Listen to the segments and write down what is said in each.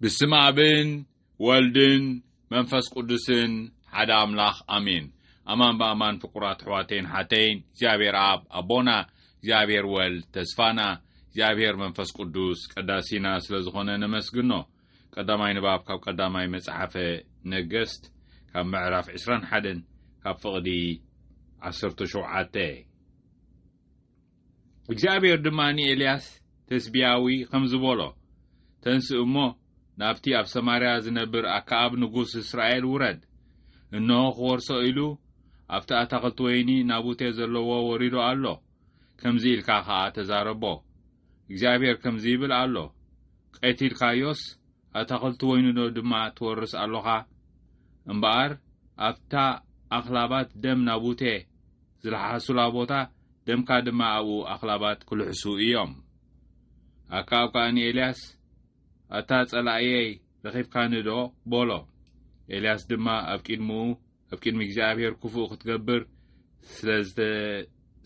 ብስም ኣብን ወልድን መንፈስ ቅዱስን ሓደ ኣምላኽ ኣሜን ኣማን ብኣማን ፍቁራት ኣሕዋተይን ሓተይን እግዚኣብሔር ኣብ ኣቦና እግዚኣብሔር ወልድ ተስፋና እግዚኣብሔር መንፈስ ቅዱስ ቀዳሲና ስለ ዝኾነ ነመስግኖ ቀዳማይ ንባብ ካብ ቀዳማይ መጽሓፈ ነገስት ካብ ምዕራፍ 21 ካብ ፍቕዲ 17 እግዚኣብሔር ድማ ንኤልያስ ተስብያዊ ኸምዚ በሎ፣ ተንስእ እሞ፣ ናብቲ ኣብ ሰማርያ ዝነብር ኣከኣብ ንጉስ እስራኤል ውረድ። እንሆ፣ ኽወርሶ ኢሉ ኣብቲ ኣታኽልቲ ወይኒ ናቡቴ ዘለዎ ወሪዱ ኣሎ፣ ከምዚ ኢልካ ኸኣ ተዛረቦ፣ እግዚኣብሔር ከምዚ ይብል ኣሎ፣ ቐቲልካዮስ፣ ኣታኽልቲ ወይኑዶ ድማ ትወርስ ኣሎኻ? እምበኣር ኣብታ ኣኽላባት ደም ናቡቴ ዝለሓሱላ ቦታ ደምካ ድማ ኣብኡ ኣኽላባት ክልሕሱ እዮም። ኣከኣብ ከኣ ንኤልያስ፣ ኣታ ጸላእየይ ረኺብካኒዶ? በሎ። ኤልያስ ድማ ኣብ ቂድምኡ፣ ኣብ ቂድሚ እግዚኣብሄር ክፉእ ክትገብር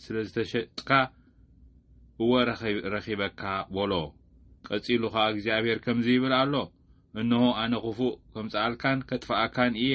ስለ ዝተሸጥካ፣ እወ ረኺበካ፣ በሎ። ቀጺሉ ኸኣ እግዚኣብሄር ከምዚ ይብል ኣሎ፣ እንሆ፣ ኣነ ክፉእ ከምጽኣልካን ከጥፍኣካን እየ።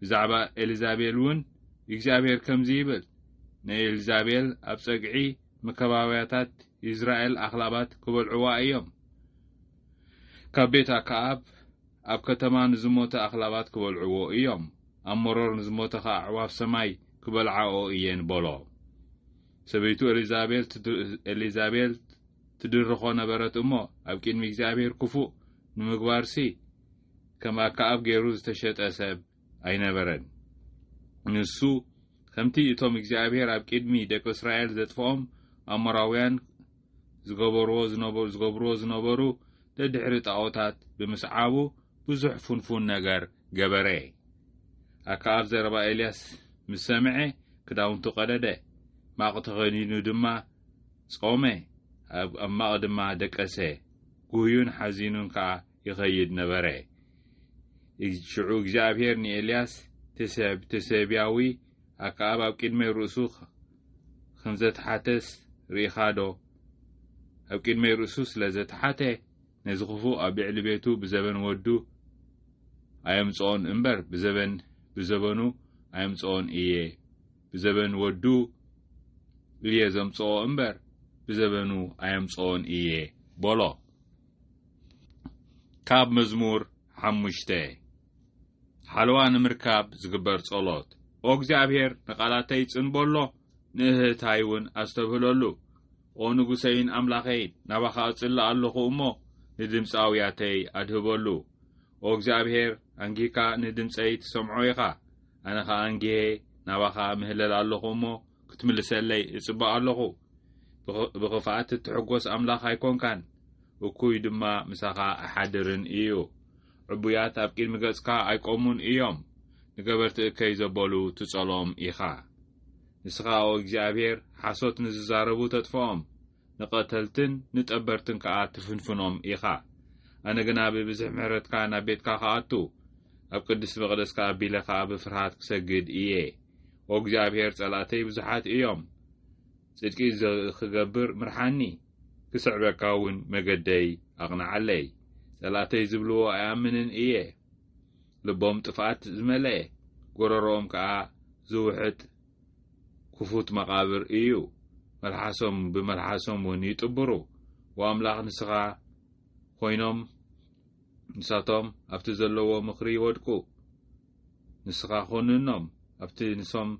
ብዛዕባ ኤልዛቤል እውን እግዚኣብሄር ከምዚ ይብል፣ ንኤልዛቤል ኣብ ጸግዒ መካባብያታት ይዝራኤል ኣኽላባት ኪበልዕዋ እዮም፣ ካብ ቤት ኣከኣብ ኣብ ከተማ ንዝሞተ ኣኽላባት ኪበልዕዎ እዮም፣ ኣብ መሮር ንዝሞተ ኸኣ ኣዕዋፍ ሰማይ ኪበልዓኦ እየን በሎ። ሰበይቱ ኤልዛቤል ትድርኾ ነበረት እሞ፣ ኣብ ቅድሚ እግዚኣብሄር ክፉእ ንምግባርሲ፣ ከም ኣከኣብ ገይሩ ዝተሸጠ ሰብ ኣይነበረን። ንሱ ከምቲ እቶም እግዚኣብሄር ኣብ ቂድሚ ደቂ እስራኤል ዘጥፍኦም ኣሞራውያን ዝገበርዎ ዝነበሩ ዝገብርዎ ዝነበሩ ደድሕሪ ጣኦታት ብምስዓቡ ብዙሕ ፉንፉን ነገር ገበረ። ኣከኣብ ዘረባ ኤልያስ ምስ ሰምዐ ክዳውንቱ ቀደደ፣ ማቅ ተኸዲኑ ድማ ጾመ፣ ኣብ ኣብ ማቅ ድማ ደቀሰ፣ ጉህዩን ሓዚኑን ከኣ ይኸይድ ነበረ። ሽዑ እግዚኣብሔር ንኤልያስ ትሰብ ትሰብያዊ ኣከኣብ ኣብ ቅድሚ ርእሱ ከም ዘተሓተስ ርኢኻዶ? ኣብ ቅድሚ ርእሱ ስለ ዘተሓተ ነዚ ክፉ ኣብ ልዕሊ ቤቱ ብዘበን ወዱ ኣየምጽኦን እምበር ብዘበን ብዘበኑ ኣየምጽኦን እየ ብዘበን ወዱ እየ ዘምጽኦ እምበር ብዘበኑ ኣየምጽኦን እየ በሎ። ካብ መዝሙር ሓሙሽተ ሓለዋ ንምርካብ ዝግበር ጸሎት ኦ እግዚኣብሔር ንቓላተይ ጽን በሎ ንእህታይ እውን ኣስተብህለሉ ኦ ንጉሰይን ኣምላኸይን ናባኻ እጽሊ ኣለኹ እሞ ንድምፂ ኣውያተይ ኣድህበሉ ኦ እግዚኣብሔር ኣንጊህካ ንድምፀይ ትሰምዖ ኢኻ ኣነ ኸኣ ኣንጊሄ ናባኻ ምህለል ኣለኹ እሞ ክትምልሰለይ እጽበ ኣለኹ ብኽፍኣት እትሕጐስ ኣምላኽ ኣይኰንካን፣ እኩይ ድማ ምሳኻ ኣይሓድርን እዩ። ዕቡያት ኣብ ቅድሚ ገጽካ ኣይቈሙን እዮም፣ ንገበርቲ እከይ ዘበሉ ትጸልኦም ኢኻ። ንስኻ ኦ እግዚኣብሄር፣ ሓሶት ንዝዛረቡ ተጥፍኦም፣ ንቐተልትን ንጠበርትን ከኣ ትፍንፍኖም ኢኻ። ኣነ ግና ብብዝሒ ምሕረትካ ናብ ቤትካ ክኣቱ፣ ኣብ ቅድስቲ መቕደስካ ኣቢለ ኸኣ ብፍርሃት ክሰግድ እየ። ኦ እግዚኣብሄር ጸላእተይ ብዙሓት እዮም ጽድቂ ክገብር ምርሓኒ ክስዕበካ እውን መገደይ ኣቕንዓለይ ጸላእተይ ዝብልዎ ኣይኣምንን እየ ልቦም ጥፍኣት ዝመለአ ጎረሮኦም ከኣ ዝውሕጥ ክፉት መቓብር እዩ መልሓሶም ብመልሓሶም እውን ይጥብሩ ወኣምላኽ ንስኻ ኾይኖም ንሳቶም ኣብቲ ዘለዎ ምኽሪ ይወድቁ ንስኻ ኹንኖም ኣብቲ ንሶም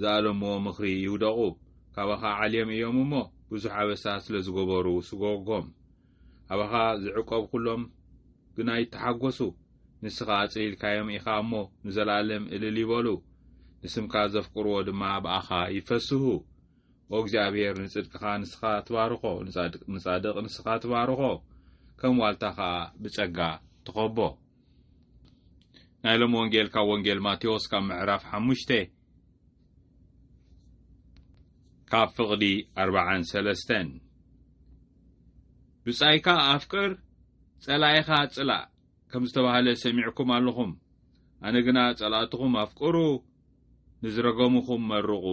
ዝኣለምዎ ምኽሪ ይውደቑ ካባኻ ዓልዮም እዮም እሞ ብዙሕ ኣበሳ ስለ ዝገበሩ ስጎጎም ኣባኻ ዝዕቆብ ኩሎም ግና ይተሓጎሱ ንስኻ ኣጽሊልካዮም ኢኻ እሞ ንዘለኣለም እልል ይበሉ ንስምካ ዘፍቅርዎ ድማ ብኣኻ ይፈስሁ ኦ እግዚኣብሔር ንጽድቅኻ ንስኻ ትባርኾ ንጻድቅ ንስኻ ትባርኾ ከም ዋልታ ኸኣ ብጸጋ ትኸቦ ናይ ሎም ወንጌል ካብ ወንጌል ማቴዎስ ካብ ምዕራፍ ሓሙሽተ ካብ ፍቕዲ ኣርባዓን ሰለስተን ብጻይካ ኣፍቅር ጸላኢኻ ጽላእ ከም ዝተባህለ ሰሚዕኩም ኣለኹም ኣነ ግና ጸላእትኹም ኣፍቅሩ ንዝረገሙኹም መርቑ።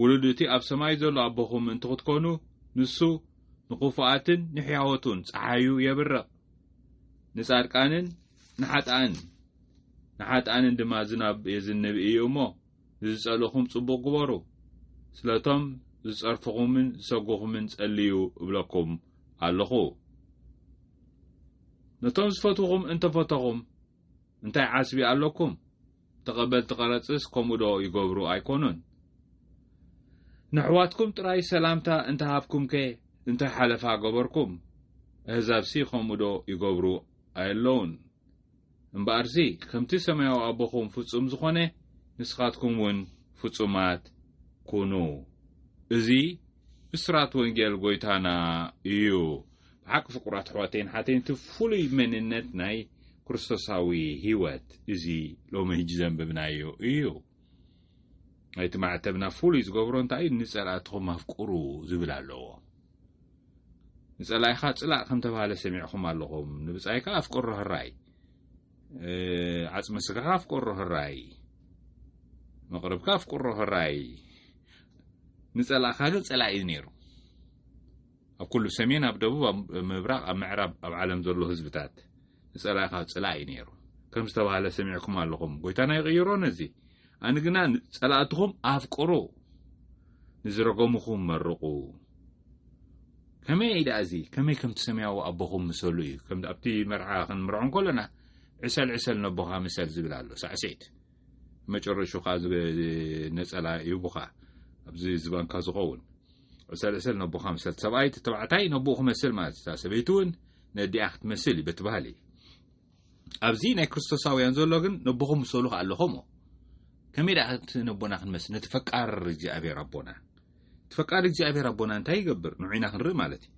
ውሉድ እቲ ኣብ ሰማይ ዘሎ ኣቦኹም ምእንቲ ክትኮኑ፣ ንሱ ንኽፉኣትን ንሕያዎቱን ጸሓዩ የብርቕ፣ ንጻድቃንን ንሓጥኣንን ንሓጥኣንን ድማ ዝናብ የዝንብ እዩ እሞ፣ ንዝጸልእኹም ጽቡቕ ግበሩ፣ ስለቶም ዝጸርፍኹምን ዝሰጉኹምን ጸልዩ እብለኩም ኣሎኹ። ነቶም ዝፈትዉኹም እንተ ፈተኹም፣ እንታይ ዓስቢ ኣለኩም ተቀበልቲ ቀረጽስ ከምኡ ዶ ይገብሩ ኣይኮኑን ነሕዋትኩም ጥራይ ሰላምታ እንተ ሃብኩምከ እንታይ ሓለፋ ገበርኩም ኣህዛብሲ ከምኡ ዶ ይገብሩ ኣየለውን እምበኣርሲ ከምቲ ሰማያዊ ኣቦኹም ፍጹም ዝኾነ ንስኻትኩም እውን ፍጹማት ኩኑ እዚ ብስራት ወንጌል ጎይታና እዩ ብሓቂ ፍቁራት ኣሕዋተይን ሓተይን እቲ ፍሉይ መንነት ናይ ክርስቶሳዊ ህይወት እዚ ሎሚ ህጂ ዘንብብናዮ እዩ ናይቲ ማዕተብና ፍሉይ ዝገብሮ እንታይ እዩ ንጸላእትኹም ኣፍቅሩ ዝብል ኣለዎ ንጸላኢኻ ጽላእ ከም ተባሃለ ሰሚዕኹም ኣለኹም ንብጻይካ ኣፍቅሮ ህራይ ዓጽሚ ስጋኻ ኣፍቅሮ ህራይ መቕርብካ ኣፍቅሮ ህራይ ንጸላእኻ ግን ጸላኢ ነይሩ ኣብ ኩሉ ሰሜን ኣብ ደቡብ ኣብ ምብራቕ ኣብ ምዕራብ ኣብ ዓለም ዘሎ ህዝብታት ንጸላኢኻ ጽላእ እዩ ነይሩ ከም ዝተባህለ ሰሚዕኩም ኣለኹም ጎይታና ይቕይሮ ነዚ ኣነ ግና ጸላእትኹም ኣፍቅሩ ንዝረገምኹም መርቑ ከመይ እዩ ደኣ እዚ ከመይ ከምቲ ሰማያዊ ኣቦኹም ምሰሉ እዩ ከም ኣብቲ መርዓ ክንምርዖ እንከሎና ዕሰል ዕሰል ነቦኻ ምሰል ዝብል ኣሎ ሳዕስዒት መጨረሹ ከዓ ነፀላ ይቡኻ ኣብዚ ዝባንካ ዝኸውን ዕሰል ዕሰል ነቦኻ ምሰል ሰብኣይ እቲ ተባዕታይ ነቦኡ ክመስል ማለት እታ ሰበይቲ እውን ነዲኣ ክትመስል እዩ በቲ ባህሊ ኣብዚ ናይ ክርስቶሳውያን ዘሎ ግን ነቦኹም ምሰሉ ከዓ ኣለኹም ከመይ ደኣ እቲ ነቦና ክንመስል ነቲ ፈቃር እግዚኣብሔር ኣቦና እቲ ፈቃር እግዚኣብሔር ኣቦና እንታይ ይገብር ንዑና ክንርኢ ማለት እዩ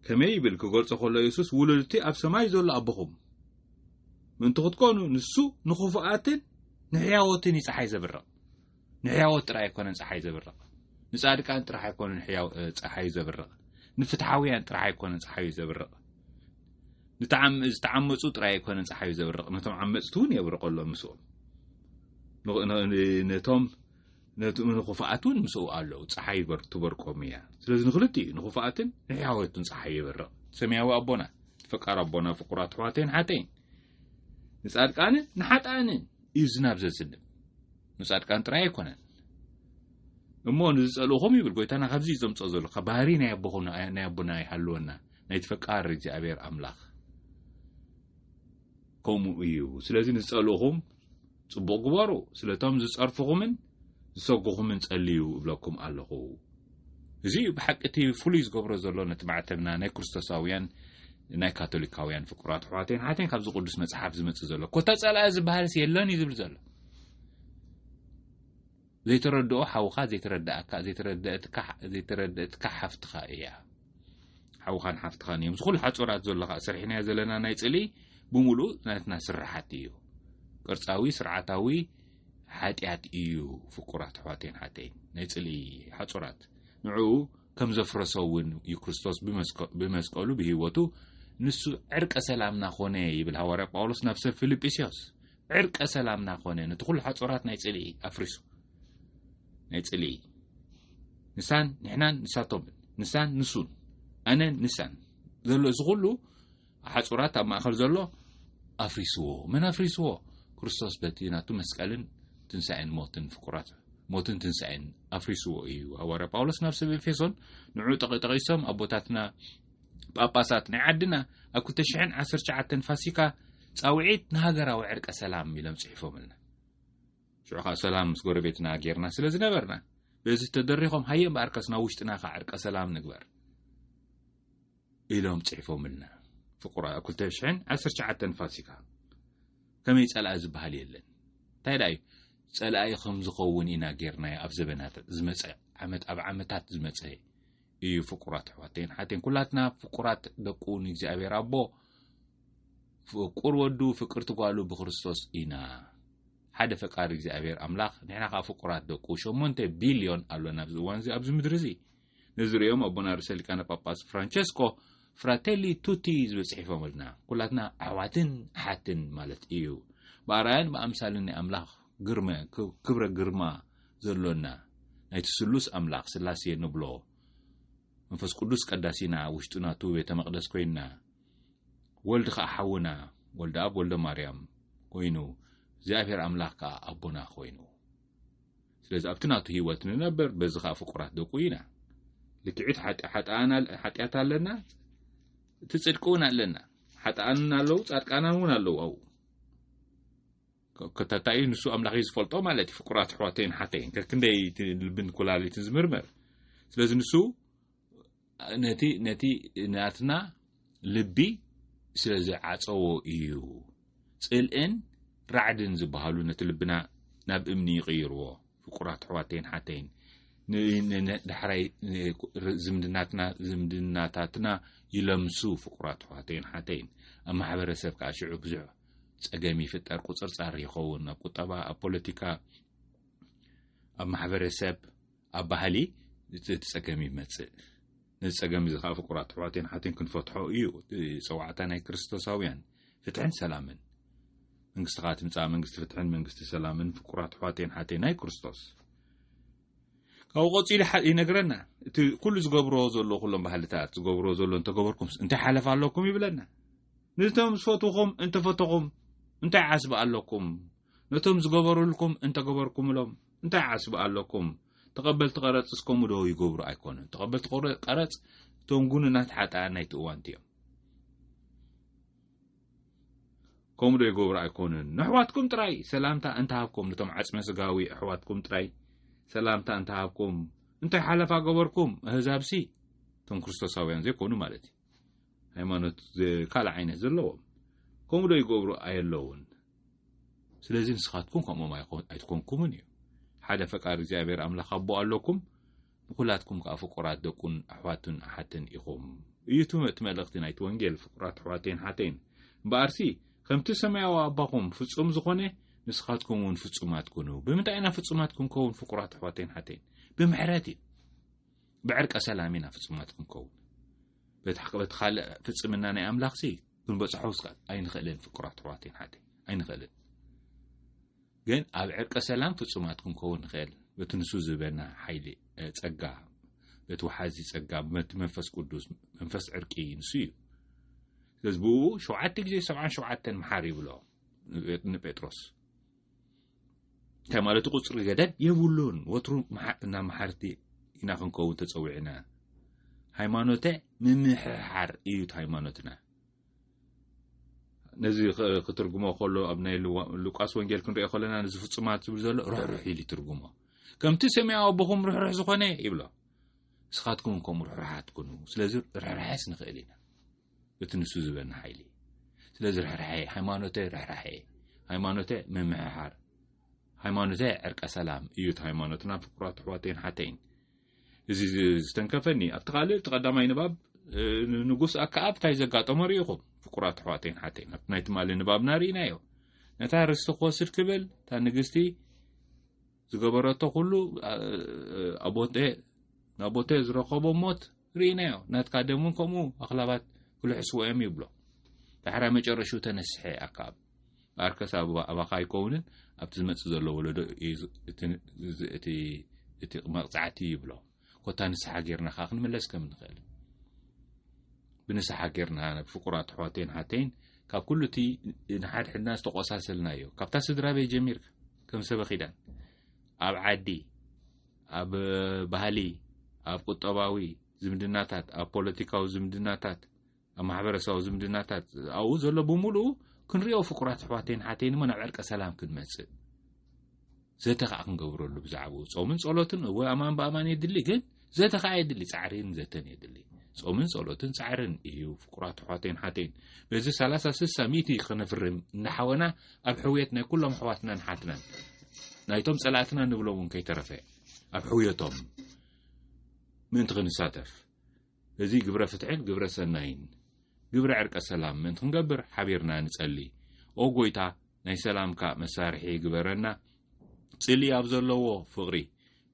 ከመይ ይብል ክገልጾ ከሎ የሱስ ውሉድቲ ኣብ ሰማይ ዘሎ ኣቦኹም ምእንቲ ክትኮኑ ንሱ ንኽፉኣትን ንሕያወትን ይፀሓይ ዘብርቕ ንሕያዎት ጥራይ ኣይኮነን ፀሓይ ዘብርቕ ንፃድቃን ጥራሕ ኣይኮነን ፀሓዩ ዘብርቕ ንፍትሓውያን ጥራሕ ኣይኮነን ፀሓዩ ዘብርቕ ዝተዓመፁ ጥራይ ኣይኮነን ፀሓዩ ዘብርቕ ነቶም ዓመፅቲ እውን የብርቐሎም ምስኦም ነቶም ንክፉኣት እውን ምስኡ ኣለዉ ፀሓይ ትበርቆም እያ ስለዚ ንክልቲ እዩ ንክፉኣትን ንሕያወትን ፀሓይ የብርቕ ሰማያዊ ኣቦና ፈቃር ኣቦና ፍቁራት ኣሕዋተይን ሓተይን ንፃድቃንን ንሓጣንን እዩ ዝናብ ዘዝንብ ንጻድቃን ጥራይ ኣይኮነን እሞ ንዝጸልእኹም ይብል ጎይታና ካብዚ እዩ ዘምጽኦ ዘሎ ካብ ባህሪ ናይ ኣቦኹ ናይ ኣቦና ይሃልወና ናይ ተፈቃሪ እግዚኣብሔር ኣምላኽ ከምኡ እዩ ስለዚ ንዝጸልእኹም ጽቡቕ ግበሩ ስለቶም ዝጸርፍኹምን ዝሰጉኹምን ጸልዩ እብለኩም ኣለኹ እዚ እዩ ብሓቂ እቲ ፍሉይ ዝገብሮ ዘሎ ነቲ ማዕተብና ናይ ክርስቶሳውያን ናይ ካቶሊካውያን ፍቁራት ኣሕዋተይን ሓተይን ካብዚ ቅዱስ መጽሓፍ ዝመጽእ ዘሎ ኮታ ጸላኢ ዝበሃልስ የለን እዩ ዝብል ዘሎ ዘይተረድኦ ሓውኻ ዘይተረድኣካ ዘይተረድእትካ ዘይተረድእትካ ሓፍትኻ እያ ሓውኻን ሓፍትኻን እዮም እዚ ኩሉ ሓፁራት ዘሎ ከዓ ስርሕናዮ ዘለና ናይ ፅሊ ብምሉእ ናትና ስራሓት እዩ ቅርፃዊ ስርዓታዊ ሓጢኣት እዩ ፍቁራት ኣሕዋተይን ሓተይን ናይ ፅሊ ሓፁራት ንዕኡ ከም ዘፍረሶ እውን እዩ ክርስቶስ ብመስቀሉ ብህይወቱ ንሱ ዕርቀ ሰላምና ኮነ ይብል ሃዋርያ ጳውሎስ ናብ ሰብ ፊልጵስዮስ ዕርቀ ሰላም ናኾነ ነቲ ኩሉ ሓጾራት ናይ ጽልኢ ኣፍሪሱ ናይ ጽልኢ ንሳን ንሕናን ንሳቶምን ንሳን ንሱን ኣነን ንሳን ዘሎ እዚ ኩሉ ሓጹራት ኣብ ማእከል ዘሎ ኣፍሪስዎ መን ኣፍሪስዎ ክርስቶስ በቲ ናቱ መስቀልን ትንሳኤን ሞትን ፍቁራት ሞትን ትንሳኤን ኣፍሪስዎ እዩ ሃዋርያ ጳውሎስ ናብ ሰብ ኤፌሶን ንዑ ጠቂሶም ኣቦታትና ጳጳሳት ናይ ዓድና ኣብ ክልተ ሽሕን ዓሰርተ ትሽዓተን ፋሲካ ጻውዒት ንሃገራዊ ዕርቀ ሰላም ኢሎም ጽሒፎምልና ሽዑ ከኣ ሰላም ምስ ጎረቤትና ጌርና ስለ ዝነበርና በዚ ተደሪኾም ሃየ እምበኣር ከስና ውሽጥና ከ ዕርቀ ሰላም ንግበር ኢሎም ጽሒፎምልና ፍቁራ ኣብ ክልተ ሽሕን ዓሰርተ ትሽዓተን ፋሲካ ከመይ ጸላኢ ዝበሃል የለን እንታይ ደኣ እዩ ጸላኢ ከም ዝኸውን ኢና ጌርናዮ ኣብ ዘበናት ዝመጸ ዓመት ኣብ ዓመታት ዝመጸ እዩ ፍቁራት ኣሕዋተይን ሓተይን ኩላትና ፍቁራት ደቁ ንእግዚኣብሔር ኣቦ ፍቁር ወዱ ፍቅር ትጓሉ ብክርስቶስ ኢና ሓደ ፈቃሪ እግዚኣብሔር ኣምላኽ ንሕና ከዓ ፍቁራት ደቁ ሸሞንተ ቢልዮን ኣሎና ኣብዚ እዋን እዚ ኣብዚ ምድሪ እዚ ነዚ ርእዮም ኣቦና ርእሰ ሊቃነ ጳጳስ ፍራንቸስኮ ፍራቴሊ ቱቲ ዝብል ጽሒፎምልና ኩላትና ኣሕዋትን ኣሓትን ማለት እዩ ብኣርኣያን ብኣምሳልን ናይ ኣምላኽ ግርመ ክብረ ግርማ ዘሎና ናይቲ ስሉስ ኣምላኽ ስላሴ ንብሎ መንፈስ ቅዱስ ቀዳሲና ውሽጡ ናቱ ቤተ መቅደስ ኮይንና ወልድ ከኣ ሓውና ወልደ ኣብ ወልደ ማርያም ኮይኑ እግዚኣብሔር ኣምላኽ ከኣ ኣቦና ኮይኑ ስለዚ ኣብቲ ናቱ ህይወት ንነበር በዚ ከዓ ፍቁራት ደቁ ኢና ልክዒት ሓጢኣት ኣለና እቲ ፅድቂ እውን ኣለና ሓጥኣንን ኣለዉ ፃድቃናን እውን ኣለዉ ኣብኡ ከታታ እዩ ንሱ ኣምላኽ እዩ ዝፈልጦ ማለት እዩ ፍቁራት ኣሕዋተይን ሓተይን ከክንደይ እቲ ልብን ኩላሊትን ዝምርመር ስለዚ ንሱ ነቲ ነቲ ናትና ልቢ ስለ ዝዓፀዎ እዩ ፅልእን ራዕድን ዝበሃሉ ነቲ ልብና ናብ እምኒ ይቕይርዎ ፍቁራት ኣሕዋተይን ሓተይን ዳሕራይ ዝምድናትና ዝምድናታትና ይለምሱ ፍቁራት ኣሕዋተይን ሓተይን ኣብ ማሕበረሰብ ከዓ ሽዑ ብዙሕ ጸገም ይፍጠር፣ ቁጽርጻር ይኸውን፣ ኣብ ቁጠባ፣ ኣብ ፖለቲካ፣ ኣብ ማሕበረሰብ፣ ኣብ ባህሊ እቲ ጸገም ይመጽእ። ነዚ ጸገም እዚ ከዓ ፍቁራት ኣሕዋትን ሓትን ክንፈትሖ እዩ ጸዋዕታ ናይ ክርስቶሳውያን። ፍትሕን ሰላምን መንግስትኻ ትምጻእ፣ መንግስቲ ፍትሕን መንግስቲ ሰላምን ፍቁራት ኣሕዋትን ሓትን ናይ ክርስቶስ ካብኡ ቀጺሉ ይነግረና እቲ ኩሉ ዝገብሮ ዘሎ ኩሎም ባህልታት ዝገብሮ ዘሎ እንተገበርኩምስ እንታይ ሓለፍ ኣለኩም ይብለና ንቶም ዝፈትኹም እንተፈተኹም እንታይ ዓስቢ ኣለኩም ነቶም ዝገበሩልኩም እንተገበርኩምሎም እንታይ ዓስቢ ኣለኩም ተቐበልቲ ቀረፅ እስከሙ ዶ ይገብሩ ኣይኮኑን ተቐበልቲ ቀረፅ እቶም ጉኑናት ሓጣ ናይቲ እዋንቲ እዮም ከምኡ ዶ ይገብሩ ኣይኮኑን ነሕዋትኩም ጥራይ ሰላምታ እንተሃብኩም ንቶም ዓጽመ ስጋዊ ኣሕዋትኩም ጥራይ ሰላምታ እንተሃብኩም እንታይ ሓለፋ ገበርኩም ኣህዛብሲ እቶም ክርስቶሳውያን ዘይኮኑ ማለት እዩ ሃይማኖት ካልእ ዓይነት ዘለዎም ከምኡ ዶ ይገብሩ ኣየለውን ስለዚ ንስኻትኩም ከምኦም ኣይትኮንኩምን እዩ ሓደ ፈቃር እግዚኣብሔር ኣምላኽ ኣቦ ኣለኩም ንኩላትኩም ከኣ ፍቁራት ደቁን ኣሕዋቱን ኣሓትን ኢኹም እዩ እቲ መልእኽቲ ናይቲ ወንጌል ፍቁራት ኣሕዋተይን ኣሓተይን እምበኣርሲ ከምቲ ሰማያዊ ኣባኹም ፍጹም ዝኾነ ንስኻትኩም እውን ፍጹማት ኩኑ ብምንታይ ኢና ፍጹማት ክንከውን ፍቁራት ኣሕዋተይን ኣሓተይን ብምሕረት እዩ ብዕርቀ ሰላም ኢና ፍጹማት ክንከውን በቲ ሓቂ በቲ ካልእ ፍጽምና ናይ ኣምላኽሲ ክንበጽሖ ኣይንኽእልን ፍቁራት ኣሕዋተይን ኣሓተይን ኣይንኽእልን ግን ኣብ ዕርቀ ሰላም ፍጹማት ክንከውን ንኽእል በቲ ንሱ ዝበና ሓይሊ ጸጋ በቲ ወሓዚ ጸጋ በቲ መንፈስ ቅዱስ መንፈስ ዕርቂ ንሱ እዩ ስለዚ ብኡ ሸውዓተ ግዜ ሰብዓን ሸውዓተን መሓር ይብሎ ንጴጥሮስ እንታይ ማለት ቁፅሪ ገደብ የብሉን ወትሩ እና መሓርቲ ኢና ክንከውን ተፀዊዕና ሃይማኖተ ምምሕሓር እዩት ሃይማኖትና ነዚ ክትርጉሞ ከሎ ኣብ ናይ ሉቃስ ወንጌል ክንሪኦ ከለና ነዚ ፍጹማት ዝብል ዘሎ ርሕርሕ ኢሉ ይትርጉሞ ከምቲ ሰማያዊ ኣቦኹም ርሕርሕ ዝኾነ ይብሎ ንስኻትኩም ከምኡ ርሕርሓት ኩኑ ስለዚ ርሕርሐስ ንኽእል ኢና እቲ ንሱ ዝበና ሓይሊ ስለዚ ርሕርሐ ሃይማኖተ ርሕርሐ ሃይማኖተ ምምሕሓር ሃይማኖተ ዕርቀ ሰላም እዩ እቲ ሃይማኖትና ፍቅራት ኣሕዋተይን ሓተይን እዚ ዝተንከፈኒ ኣብቲ ካልእ እቲ ቀዳማይ ንባብ ንጉስ ኣከኣብ እንታይ ዘጋጠሞ ርኢኹም ፍቁራት ኣሕዋተይን ሓተይን ኣብቲ ናይ ትማሊ ንባብና ርኢናዮ ነታ ርስቲ ክወስድ ክብል እታ ንግስቲ ዝገበረቶ ኩሉ ኣቦቴ ናቦቴ ዝረከቦ ሞት ርኢናዮ ናትካ ደም እውን ከምኡ ኣኽላባት ክልሕስዎ እዮም ይብሎ ዳሕራይ መጨረሽኡ ተነስሐ ኣካብ ኣርከስ ኣባካ ኣይከውንን ኣብቲ ዝመፅእ ዘሎ ወለዶ እቲ መቕፃዕቲ ይብሎ ኮታ ንስሓ ጌርና ከ ክንምለስ ከም ንኽእል ብንስሓ ጌርና ፍቁራ ትሕዋተይን ሓተይን ካብ ኩሉ እቲ ንሓድ ሕድና ዝተቆሳሰልና ዩ ካብታ ስድራ ቤት ጀሚርካ ከም ሰበ ኺዳን ኣብ ዓዲ ኣብ ባህሊ ኣብ ቁጠባዊ ዝምድናታት ኣብ ፖለቲካዊ ዝምድናታት ኣብ ማሕበረሰባዊ ዝምድናታት ኣብኡ ዘሎ ብምሉኡ ክንሪኦ ፍቁራት ኣሕዋተይን ሓተይን እሞ ናብ ዕርቀ ሰላም ክንመጽእ ዘተ ከዓ ክንገብረሉ ብዛዕባኡ ጾምን ጸሎትን እወ ኣማን ብኣማን የድሊ ግን ዘተ ከዓ የድሊ ጻዕሪን ዘተን የድሊ ጾምን ጸሎትን ጻዕርን እዩ ፍቁራት ኣሕዋተይን ሓተይን በዚ ሰላሳ ስሳ ሚእቲ ክነፍርም እናሓወና ኣብ ሕውየት ናይ ኩሎም ኣሕዋትናን ሓትናን ናይቶም ጸላእትና ንብሎም እውን ከይተረፈ ኣብ ሕውየቶም ምእንቲ ክንሳተፍ እዚ ግብረ ፍትሕን ግብረ ሰናይን ግብረ ዕርቀ ሰላም ምእንቲ ክንገብር ሓቢርና ንጸሊ። ኦ ጎይታ ናይ ሰላምካ መሳርሒ ግበረና ጽልኢ ኣብ ዘለዎ ፍቕሪ፣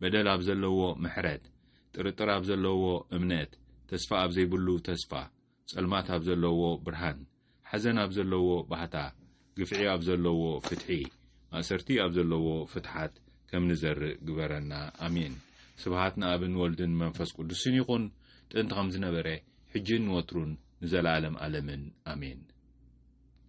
በደል ኣብ ዘለዎ ምሕረት፣ ጥርጥር ኣብ ዘለዎ እምነት፣ ተስፋ ኣብ ዘይብሉ ተስፋ፣ ጸልማት ኣብ ዘለዎ ብርሃን፣ ሓዘን ኣብ ዘለዎ ባህታ፣ ግፍዒ ኣብ ዘለዎ ፍትሒ፣ ማእሰርቲ ኣብ ዘለዎ ፍትሓት ከም ንዘርእ ግበረና። ኣሜን። ስብሃት ንኣብን ወልድን መንፈስ ቁዱስን ይኹን ጥንቲ ከም ዝነበረ ሕጂን ንወትሩን ንዘላኣለም ኣለምን ኣሜን።